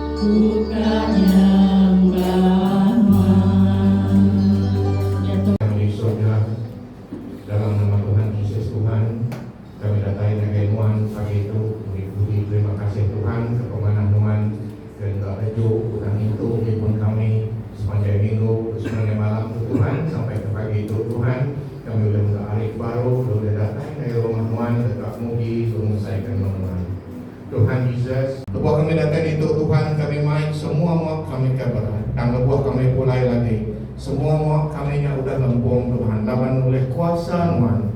Ku ka nyembah Nuh. Kami di surga, dalam nama Tuhan Jesus Tuhan, kami datai ngagai Nuan pagi tu meri puji terima kasih Tuhan ke pemanah Nuan ke enda teju udah ngintu nyempun kami sepanjai minggu ke sepanjai malam tu Tuhan sampai ke pagi tu Tuhan kami ulih mega ari ke baru ulih datai ngagai rumah Nuan deka muji bengesai ke nama Nuan. Tuhan Jesus. Lebuh kami datai ditu Tuhan kami mai semua mua kami ka berat tang lebuh kami pulai lagi semua mua kami nya udah lempung Tuhan laban ulih kuasa nuan.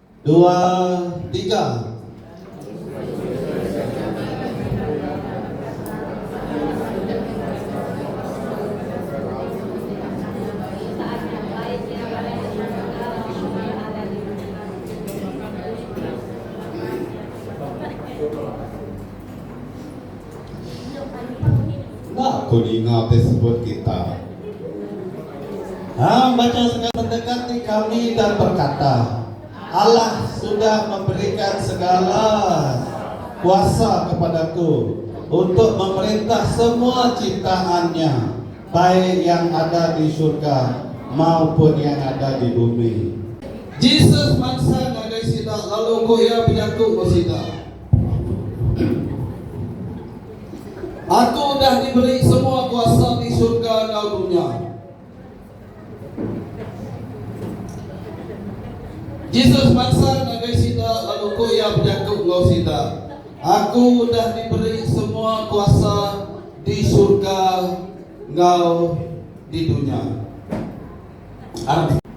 Dua tiga. Enda ku ninga ti sebut kita. Hang baca sega. Pendekat ti kami dan berkata, Allah sudah memberikan segala kuasa kepada Aku untuk memerintah semua ciptaan Nya, baik yang ada di surga maupun yang ada di bumi. Jesus mansa ngagai sida lalu ku Iya bejaku enggau sida. Aku udah diberi semua kuasa di surga enggau dunya. Jesus mansang ngagai sida lalu ku iya bejaku enggau sida, Aku udah diberi semua kuasa di surga enggau di dunya. Arap sida.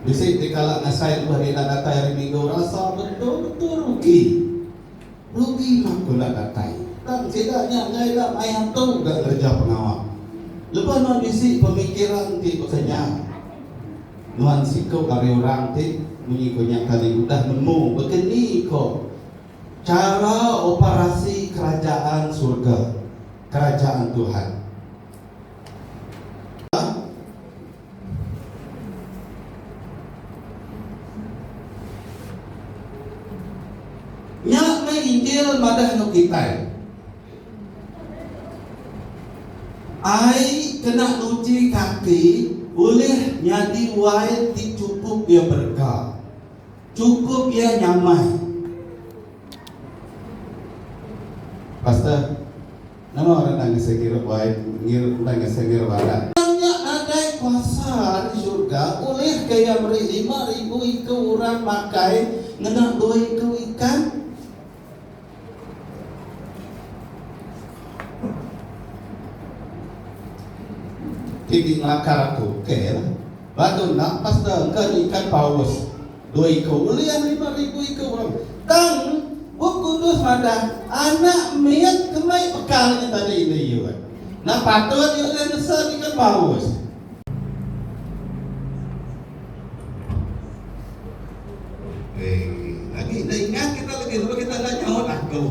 Bisi ti kala ngasai lembah ni enda datai hari minggu rasa betul betul rugi. Rugi mah ko enda datai. Tang sida nya enggai enda mai antu ga ngereja pengawa. Lebuh nuan bisi pemikiran ti baka nya nuan siku ari orang ti munyi ko nya tadi udah nemu baka ni ko chara operasi kerajaan surga, kerajaan Tuhan. Nya meh Injil madah enggau kitai. Ai kena nuchi kaki ulih nyadi wai ti chukup iya berega, chukup iya nyamai. Pastor. Nama orang enda ngasai ngira bai ngir enda ngasai ngira barat. Tang nya nadai kuasa ari surga ulihka iya meri lima ribu iku orang makai ngena dua iku ikan? Ti di ngelakar aku, ukai lah. Lalu nampas da engka nyikat Paulus, dua iku ulih lima ribu iku orang. Tang, Bup Kudus madah, Anak mit ke mei pekal nya tadi indu Yud. Enda patut iya ulih nesa nyikat Paulus. Hei, agi enda ingat kita lagi sebab kita enda nyaut aku.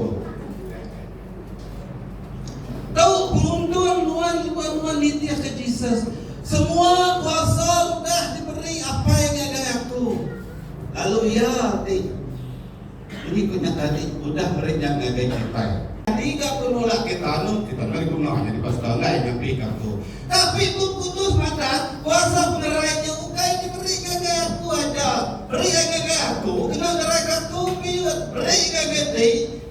Tu penguntung nuan tubah nuan nitihka Jesus, Semua kuasa udah diberi Apai ngagai aku. Lalu iya ti munyi ku nya tadi udah meri nya ngagai kitai. Nyadi ga ku nulak kita anu kita meh diguna nyadi pastor alai nyampika aku. Tapi Bup Kudus madah, Kuasa pengerai nya ukai diberi ngagai aku aja. Beri ai ngagai aku kena ngeraika aku piyut meri ngagai ti.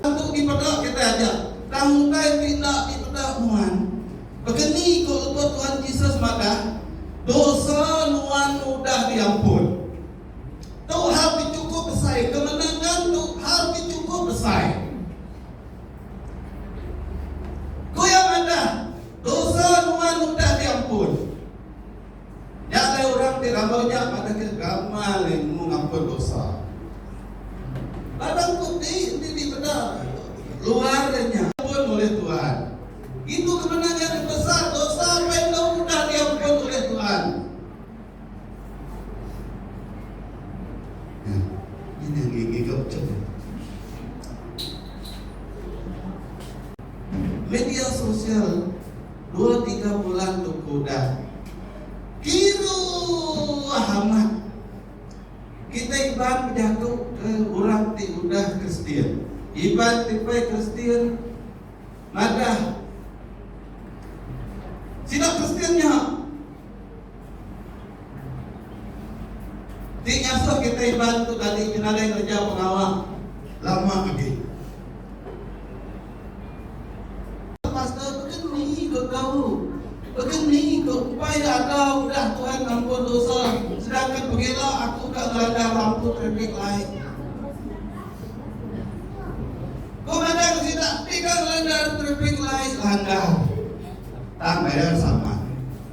Lebuh dipeda kitai aja tang utai ti enda dipeda nuan. Begeni ko lebuh Tuhan Jesus madah, Dosa nuan udah diampun. Tu hal ti chukup besai, kemenangan tu hal ti chukup besai. Ku iya madah, Dosa nuan udah diampun. Nya alai orang ti randau nya madahka gamal iya nemu ngampun dosa. Ladang ku ti enti dipeda luar nya. Ampun ulih Tuhan. Ngitu ke mena nya dipesal dosa pai enggau udah diampun ulih Tuhan. Media sosial. Dua tiga bulan tu ku udah kiruh amat. Kitai Iban bejaku ke orang ti udah Kristian. Iban ti pei Kristian madah sida Kristian nya. Ti ngasuh kitai Iban tu tadi kena nadai ngereja pengawa lama agi. Pastor beken ni ko tau. Beken ni ko empai da ada udah Tuhan ngampun dosa sedangkan pegila aku ka ngelanda lampu traffic light. Ko ngadan ke sida ti ka ngelanda traffic light langgar. Tang bayar sama.